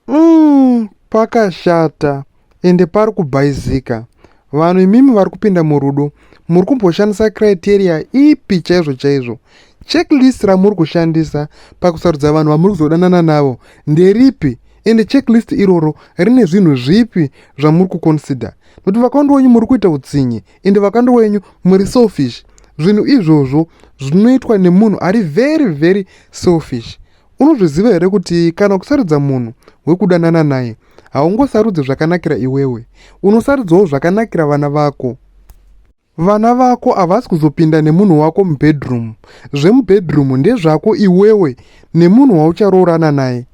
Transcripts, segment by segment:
Umm pakashata ende pari kubhaizika. Vanhu imimi vari kupinda murudo muri kumboshandisa criteria ipi chaizvo chaizvo? Checklist ramuri kushandisa pakusarudza vanhu vamuri kuzodanana navo nderipi ende checklist iroro rine zvinhu zvipi zvamuri kuconsider? Nokuti vakawanda wenyu muri kuita utsinye ende vakawanda wenyu muri selfish. Zvinhu izvozvo zvinoitwa nemunhu ari very very selfish. Unozviziva here kuti kana ukusarudza munhu wekudanana naye haungosarudze zvakanakira iwewe, unosarudzawo zvakanakira vana vako. Vana vako havasi kuzopinda nemunhu wako mubedroom. Zvemubedroom ndezvako iwewe nemunhu waucharoorana naye.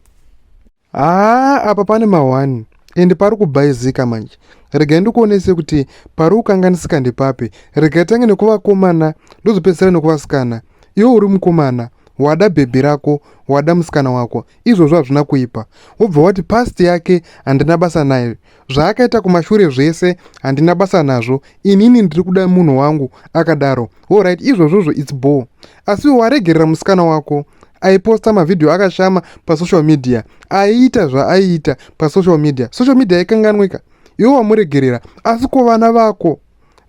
Haa apa pane mahwani ende pari kubhaizika manje. Regai ndikuonese kuti pari kukanganisika ndepapi. Regai tange nekuvakomana ndozopedzisira nekuvasikana. iwe uri mukomana wada bhebhi rako wada musikana wako izvozvo hazvina kuipa wobva wati past yake handina basa nayo zvaakaita kumashure zvese handina basa nazvo inini ndiri kuda munhu wangu akadaro orit izvozvozvo its bor asi waregerera musikana wako aiposta mavhidhiyo akashama pasocial media aiita zvaaiita pasocial media social media yaikanganwika iwe wamuregerera asi ko vana vako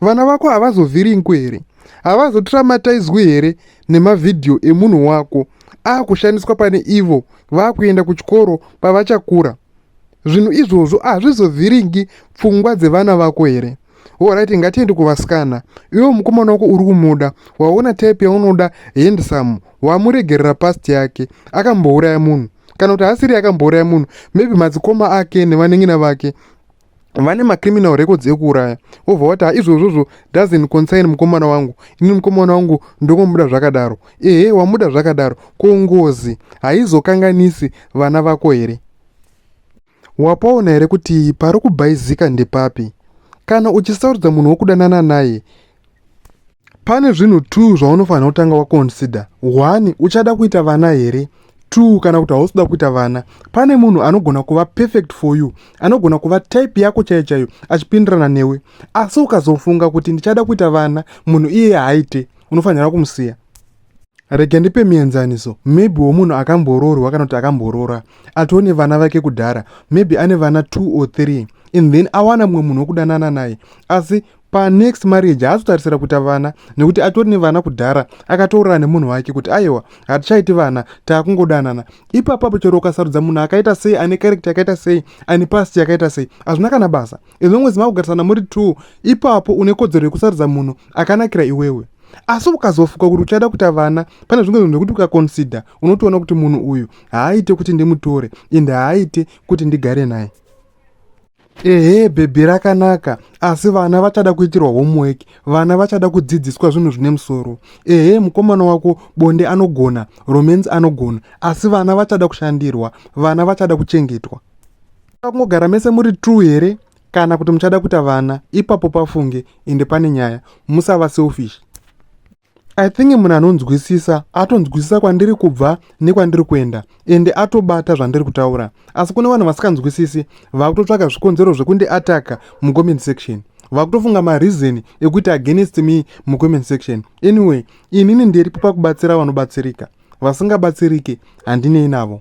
vana vako havazovhiringwi here havazotiramataizwi here nemavhidhiyo emunhu wako akushandiswa pane ivo vakuenda kuchikoro pavachakura zvinhu izvozvo hazvizovhiringi pfungwa dzevana vako here orit ngatiende kuvasikana iwe mukomana wako uri kumuda waona type yaunoda handsome wamuregerera past yake akambouraya munhu kana kuti haasiri akambouraya munhu maybe madzikoma ake nevanengina vake vane macriminal records ekuuraya wobva wati haizvozvozvo doesn't concern mukomana wangu ini mukomana wangu ndokomuda zvakadaro ehe wamuda zvakadaro ko ngozi haizokanganisi vana vako here wapaona here kuti pari kubhaizika ndepapi kana uchisarudza munhu wokudanana naye pane zvinhu two zvaunofanira kutanga waconsider one uchada kuita vana here two kana kuti hausi kuda kuita vana pane munhu anogona kuva perfect for you anogona kuva type yako chaiyo chaiyo achipindirana newe asi ukazofunga kuti ndichada kuita vana munhu iye haaite unofanira kumusiya rega ndipe mienzaniso maybe womunhu akamboroorwa kana kuti akamboroora atoo nevana vake kudhara maybe ane vana two or three and then awana mumwe munhu wekudanana naye asi panext marriage haazotarisira kuita vana nekuti atori nevana kudhara akataurira nemunhu wake kuti aiwa hatichaiti vana taakungodanana ipapapo chero ukasarudza munhu akaita sei ane karekta yakaita sei ane past yakaita sei hazvina kana basa ezvongwezi makugarisana muri t ipapo une kodzero yekusarudza munhu akanakira iwewe asi ukazofuka kuti uchada kuita vana pane zvimwe zvinhu zvekuti ukaconsider unotoona kuti munhu uyu haaite kuti ndimutore ende haaite kuti ndigare naye ehe bhebhi rakanaka asi vana vachada kuitirwa homework vana vachada kudzidziswa zvinhu zvine musoro ehe mukomana wako bonde anogona romance anogona asi vana vachada kushandirwa vana vachada kuchengetwa kungogara mese muri true here kana kuti muchada kuita vana ipapo pafunge ende pane nyaya musava selfish I think munhu anonzwisisa atonzwisisa kwandiri kubva nekwandiri kuenda ende atobata zvandiri kutaura asi kune vanhu vasikanzwisisi vakutotsvaka zvikonzero zvekundi ataka mucomment section vakutofunga mareason ekuti against me mucomment section anyway inini ndiripo pakubatsira vanobatsirika vasingabatsirike handinei navo